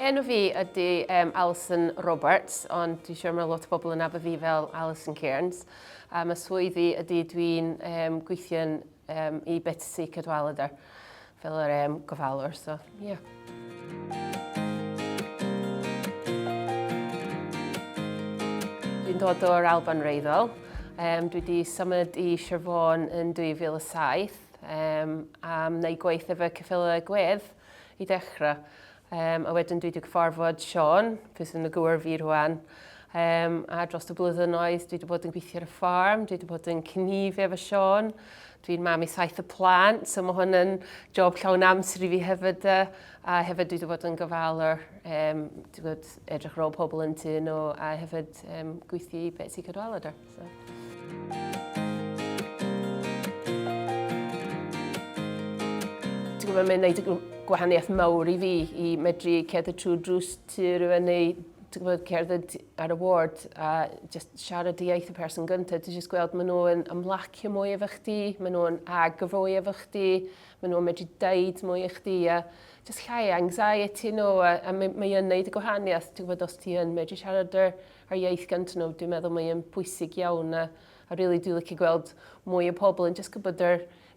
Enw fi ydy um, Alison Roberts, ond dwi'n siŵr mae lot o bobl yn nabod fi fel Alison Cairns. A mae swyddi ydy dwi'n um, gweithio'n um, i Betsi Cadwaladr. Fel yr em gofalwr, so, ie. Yeah. Dwi'n dod o'r Alban Reiddol. Um, dwi wedi symud i Sir Fôn yn 2007 um, a wna i gweith efo Cyffela Gwedd i dechrau. Um, a wedyn dwi wedi cyfarfod Sean, pwy sy'n y gywir fi rwan, um, a dros y blwyddyn oes dwi wedi bod yn gweithio ar y ffarm, dwi wedi bod yn cynnifu efo Sean, Dwi'n mam i saith y plant, so mae hwn yn job llawn amser i fi hefyd. E. A hefyd dwi wedi bod yn gofalwr, um, dwi wedi edrych ar ôl pobl yn tu nhw, a hefyd um, gweithio i beth sy'n cadwalu da. So. gwybod mae'n gwneud y gwahaniaeth mawr i fi i medru cerdded trwy drws tu rhywun neu gwybod, cerdded ar y ward a just siarad y iaith y person gyntaf, ti just gweld maen nhw'n ymlacio mwy efo chdi, maen nhw'n agroi efo chdi, maen nhw'n medru deud mwy i chdi a just llai anxiety nhw a, a mae, mae yn neud y gwahaniaeth, ti'n gwybod, os ti yn medru siarad yr, yr iaith gyntaf nhw, dwi'n meddwl mae'n bwysig iawn a, a really dwi'n licio gweld mwy o pobl yn just gwybod yr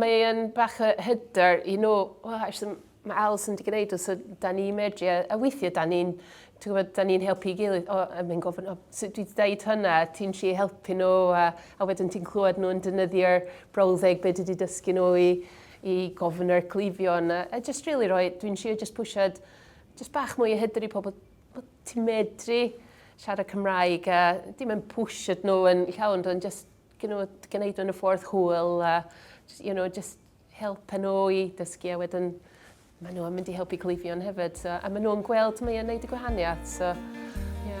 Mae yn bach o hyder i nhw, o, actually, mae Alison wedi gwneud o, so da ni medru, a, a weithiau da ni'n, ti'n gwybod, da ni'n helpu i gilydd, o, a mae'n gofyn, o, so dwi wedi dweud hynna, ti'n lle helpu nhw, a, a wedyn ti'n clywed nhw'n defnyddio'r brawddeg beth wedi dysgu nhw i, i gofyn yr cleifion, a, a just really roi, dwi'n siarad just pwysiad, just bach mwy o hyder i pobl, o, ti'n medru siarad Cymraeg, a dim yn pwysiad nhw yn llawn, ond just gwneud gwneud nhw'n y ffordd hwyl a you know jyst helpu nhw i dysgu a wedyn ma' nhw yn mynd i helpu cleifion hefyd so a ma' nhw yn gweld mae e'n neud y gwahaniath so ie.